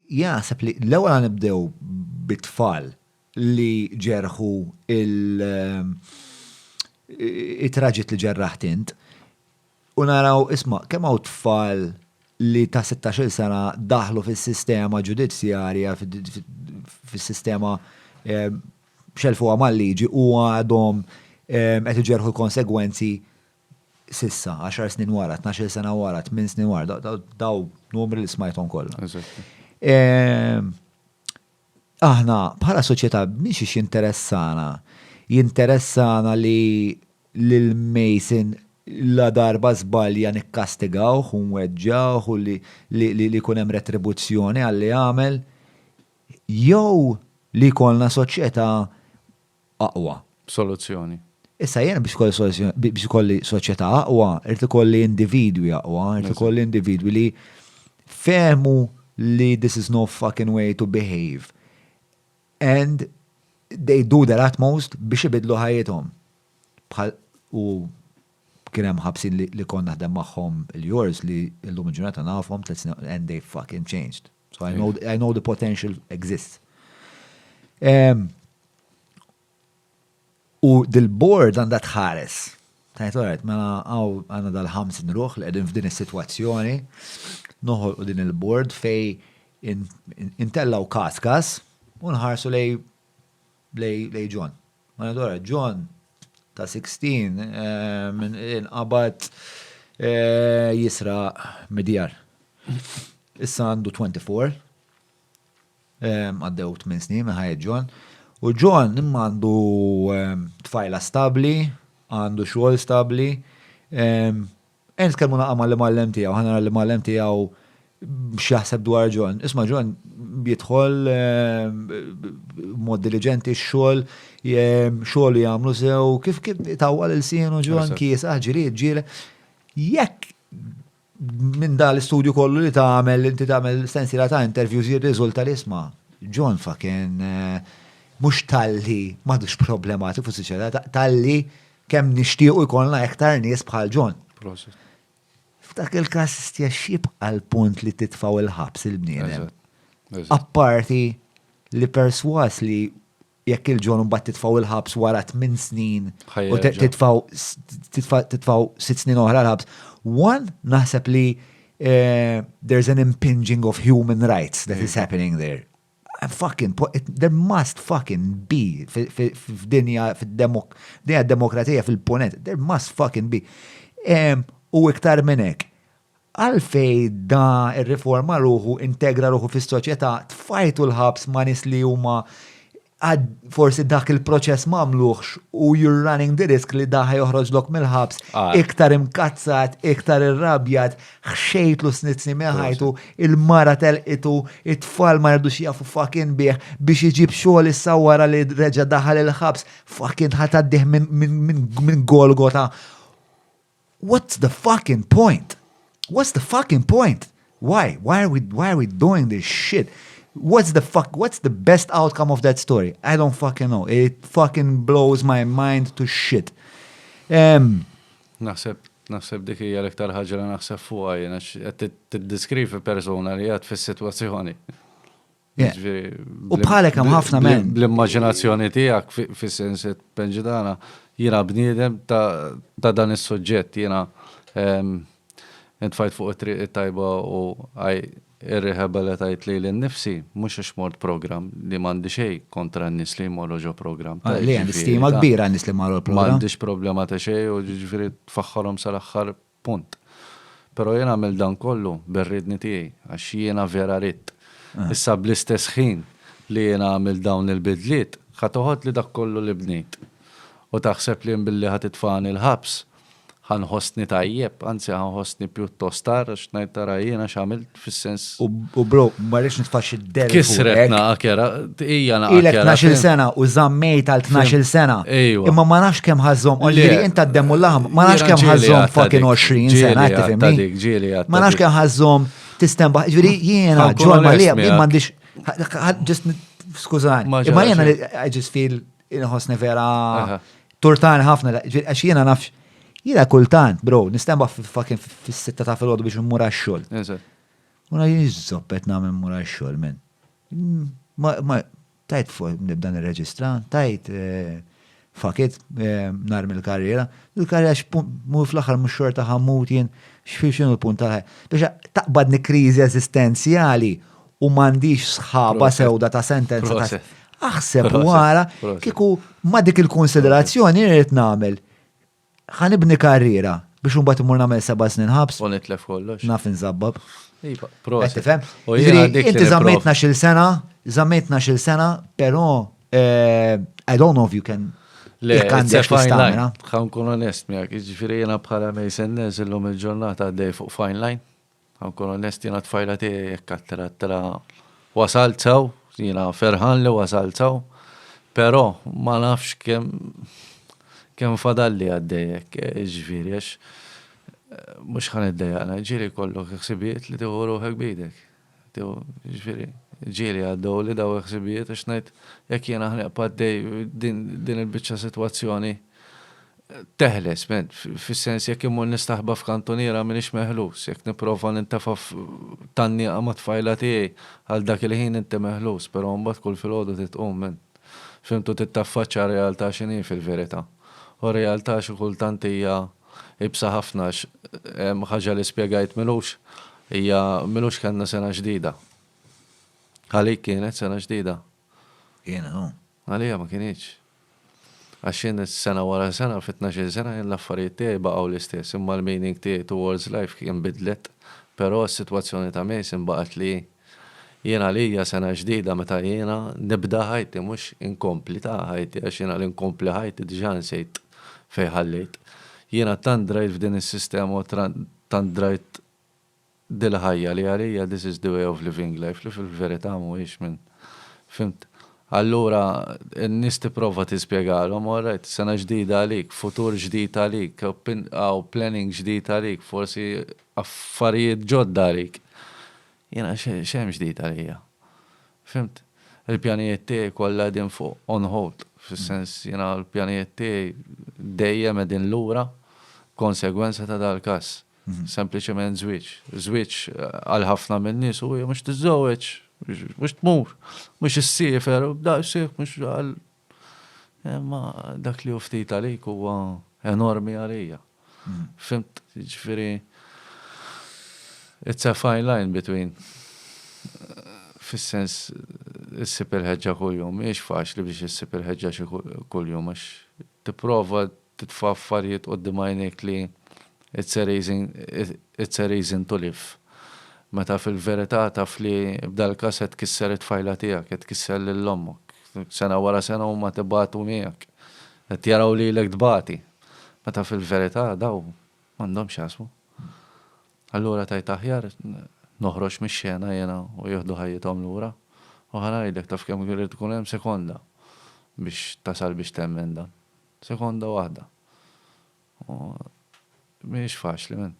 Jien naħseb li l-ewwel għan nibdew bit-tfal li ġerħu il-traġit li ġerraħt int u naraw isma' kemm hawn tfal li ta' 16-il sena daħlu fis-sistema ġudizzjarja fis-sistema xelfuha mal-liġi u għadhom qed iġerħu l-konsegwenzi s'issa, għaxar snin wara, tnax-il sena wara, tmien snin wara, daw numri li smajthom kollha. Ehm, aħna bħala soċjetà mhix ix interessana, jinteressana li lil Mason la darba żbalja nikkastigawh u nweġġawh u li li jkun hemm retribuzzjoni għalli għamel jew li jkollna soċjetà aqwa soluzzjoni. Issa jiena biex ikolli soluzzjoni, biex ikolli soċjetà aqwa, irid ikolli individwi aqwa, irid ikolli individwi li fehmu li this is no fucking way to behave and they do their utmost biex ibidlu ħajjithom. Bħal u kien hemm ħabsin li kont naħdem magħhom il-jors li llum il-ġurnata nafhom and they fucking changed. So I know, I know the potential exists. Um, u dil-board għandha tħares. Tajt, għaret, mela għaw għanna dal-ħamsin ruħ li għedin f'din is-situazzjoni, noħol u din il-board fej intellaw kas kas, unħarsu lej lej John. Mela dwar John ta' 16 inqabad jisraq mid-djar. Issa għandu 24. Għaddew 8 snin minn ħajja John. U John imma għandu tfajla stabbli, għandu xogħol stabbli, Ejja nitkellmu naqra' mal-imgħallem tiegħu, ħa nara l-imgħallem tiegħu x'jaħseb dwar John. Isma' John jidħol b'mod diliġenti x-xogħol, xogħlu jagħmlu sew, kif itawwal ilsienu John, kiesaħ, ġried, ġieled. Jekk minn dan l-istudju kollu li tagħmel, inti tagħmel sensiela ta' interviews jirriżulta li isma' John fa kien mhux talli m'għadux problematiku fis-soċjetà, talli Kemm nixtiequ jkollna iktar nies bħal John. Prosit. F'dak il-każ stja xibqa l-punt li titfaw il-ħabs il-bniedem. Apparti li perswas li jekk il-ġon mbagħad titfaw il-ħabs wara 8 snin u titfaw titfaw 6 snin oħra l-ħabs. One naħseb li eh, there's an impinging of human rights that is happening there. Fucking, there must fucking be f'dinja demokratija fil-ponent, there must fucking be. U iktar minn hekk, għalfej da ir-riforma ruħu integra ruħu fis-soċjetà tfajtu l-ħabs ma' nies li huma forsi dak il-proċess ma għamluhx u you're running the risk li da ħa joħroġlok mill-ħabs iktar imkazzat, iktar irrabjat, ħxejtlu snizni minn ħajtu, il-mara telqitu, it-tfal ma rridux jafu fakin bih biex iġib xogħol issa wara li reġa' daħal il-ħabs fakin ħataddih minn Golgota. What's the fucking point? What's the fucking point? Why? Why are we, why are we doing this shit? What's the fuck, what's the best outcome of that story? I don't fucking know. It fucking blows my mind to shit. Um, Naħseb, naħseb dik hija l-iktar ħaġa li naħseb fuqha jien għax qed tiddiskrivi persuna li għad fis-sitwazzjoni. Jiġifieri U bħalek hemm ħafna men. Bl-immaġinazzjoni tiegħek fis-sens qed penġidana jiena bniedem ta' dan is-suġġett jiena intfajt fuq it-triq it-tajba u Ir-rehaba li tajt lili nnifsi, mhux għax mort programm, li m'għandi xejn kontra n-nies li jmorru ġo programm, ta' jiġifieri. Le, hemm stima kbira għan-nies li marru l-programm. M'għandix problema ta' xejn u jiġifieri tfaħħarhom sal-aħħar punt. Però jien għamilt dan kollu bir-riedni tiegħi, għax jiena vera ridt. Issa bl-istess ħin li jiena għamilt dawn il-bidliet, ħa toħodli dak kollu li bnejt u taħseb li jien billi ħa titfagħni l-ħabs ħa nħossni tajjeb, anzi ħa nħossni pjuttost għar għax ngħid tara jiena x'għamilt fis-sens. U bro, ma rridx nitfax id-del. Kisret naqa kera, hija naqa. Ilek 12 sena u żammejt għal 12 sena. Imma ma nafx kemm ħażhom, u li inta d-demmu laħam, ma nafx kemm ħażhom fucking 20 sena, tifhimni. Ma nafx kemm ħażhom tistemba, ġifieri jiena ġol ma li m'għandix ġist skużani. Imma jiena I just feel Inħossni vera turtan ħafna, għax jiena nafx. Jiena kultant, bro, nistemba fucking fis-sitta ta' filgħodu biex mmur għax-xogħol. Una jiżżoppet nagħmel mmur għax-xogħol minn. Ma tajt fuq nibda nirreġistra, tajt eh, fakit eh, nar mill-karriera, il-karriera x'mu fl-aħħar mhux xorta ħammut jien x'fil x'inhu l-punt tal-ħajja. Biex taqbadni kriżi eżistenzjali u m'għandix sħaba sewda ta' sentenza ta' aħseb wara kieku ma dik il-konsiderazzjoni rrid nagħmel. Ħanibni karriera biex imbagħad imur nagħmel seba' snin ħabs. U nitlef kollox. Naf inżabbab. Iva, proset. Inti żammetna xil sena, żammetna xil sena, però eh, I don't know if you can Le, Għan kun onest miegħek, ġifieri jiena bħala Mason Nez illum il-ġurnata għaddej fuq fine line. Nkun onest jiena tfajla tiegħi hekk għattirat tela wasalt sew, jiena ferħan li wasalt sew, però ma nafx kemm kemm fadalli għaddej hekk, jiġifieri għax mhux ħa niddejjaqna, ġieli jkollok ħsibijiet li tieħu ruħek b'idek. Jiġifieri ġieli għaddewli daw il-ħsibijiet għax ngħid jekk jiena ħnieq paddej din il-biċċa sitwazzjoni Teħles, men, fis-sens jekk immur nistaħba f'kantuniera m'iniex meħlus, jekk nipprova nintefa' f'tannieqa mat-tfajla tiegħi, għal dak il-ħin inti meħlus, però mbagħad kull filgħodu trid tqum, men. Fimtu trid taffaċċja r-realtà x'inhi fil-verità. U r-realtà xi kultant hija iebsa ħafna għax ħaġa li spjegajt m'ilux hija m'ilux kellna sena ġdida. Għalik kienet sena ġdida? Jiena hu. Għalija ma kinitx. Għax jien sena wara sena, fi tnax-il sena jien l-affarijiet tiegħi baqgħu l-istess, imma l-meaning tiegħi towards life kien bidlet. Però s-sitwazzjoni ta' Mason baqgħet li hi. Jien għalija sena ġdida meta jiena nibda ħajti mhux inkompli ta' ħajti għax jiena li nkompli ħajti diġà nsejt fejn ħallejt. Jiena tant drajt f'din is-sistema u tant drajt dil-ħajja li għalija this is the way of living life li fil-verità mhuwiex minn fhimt? Allura n-nies tipprova tispjegalhom all right, sena ġdida għalik, futur ġdid għalik, hawn planning ġdid għalik, forsi affarijiet ġodda għalik. Jiena x'hemm ġdid għalija? Fhimt? Il-pjanijiet tiegħi kollha qegħdin fuq on hold, fis-sens jiena l-pjanijiet tiegħi dejjem qegħdin lura b'konsegwenza ta' dal-każ. Sempliċement żwieġ. Żwieġ għal ħafna min-nies hu hija mhux tiżżewweġ, mhux tmur, mhux issiefer, daqshekk mhux għal imma dak li hu ftit għalik huwa enormi għalija. Fimt, jiġifieri it's a fine line between fis-sens issib il-ħeġġa kuljum, mhijiex faċli biex issib il-ħeġġa xi kuljum għax tipprova titfa' affarijiet quddiem għajnejk li it's a reason it's a reason to live. Meta fil-verità taf li b'dal-każ qed tkisser it-tfajla tiegħek, qed tkisser lil ommok. Sena wara sena huma qed ibatu miegħek. Qed jaraw lilek tbati. Meta fil-verità daw m'għandhomx x'jaqsmu. Allura tgħid aħjar noħroġ mix-xena jiena u jieħdu ħajjithom lura. U ħa ngħidlek taf kemm irid ikun hemm sekonda biex tasal biex temmen dan. Sekonda waħda. U mhijiex faċli min.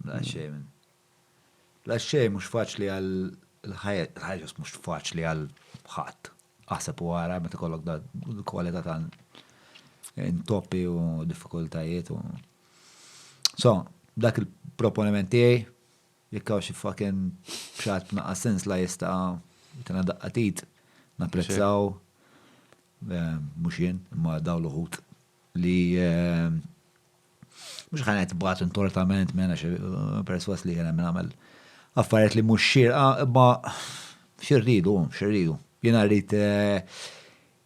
Daqsxejn min. Daqsxejn mhux faċli għal il-ħajja, il-ħajja ġust mhux faċli għal ħadd. Aħseb u ara meta kollok da kwalità ta' intoppi u diffikultajiet u. So, dak il-proponiment tiegħi Jekk hawn xi fucking pjat b'naqqas sens la jista' jtina daqqa t'id, napprezzaw, mhux jien, imma dawn l-uħud li mhux ħa ngħid bagħtu ntortament minn għax persważ li jiena min għamel affarijiet li mhux xierqa imma xi rridu, xi rridu. Jiena rrid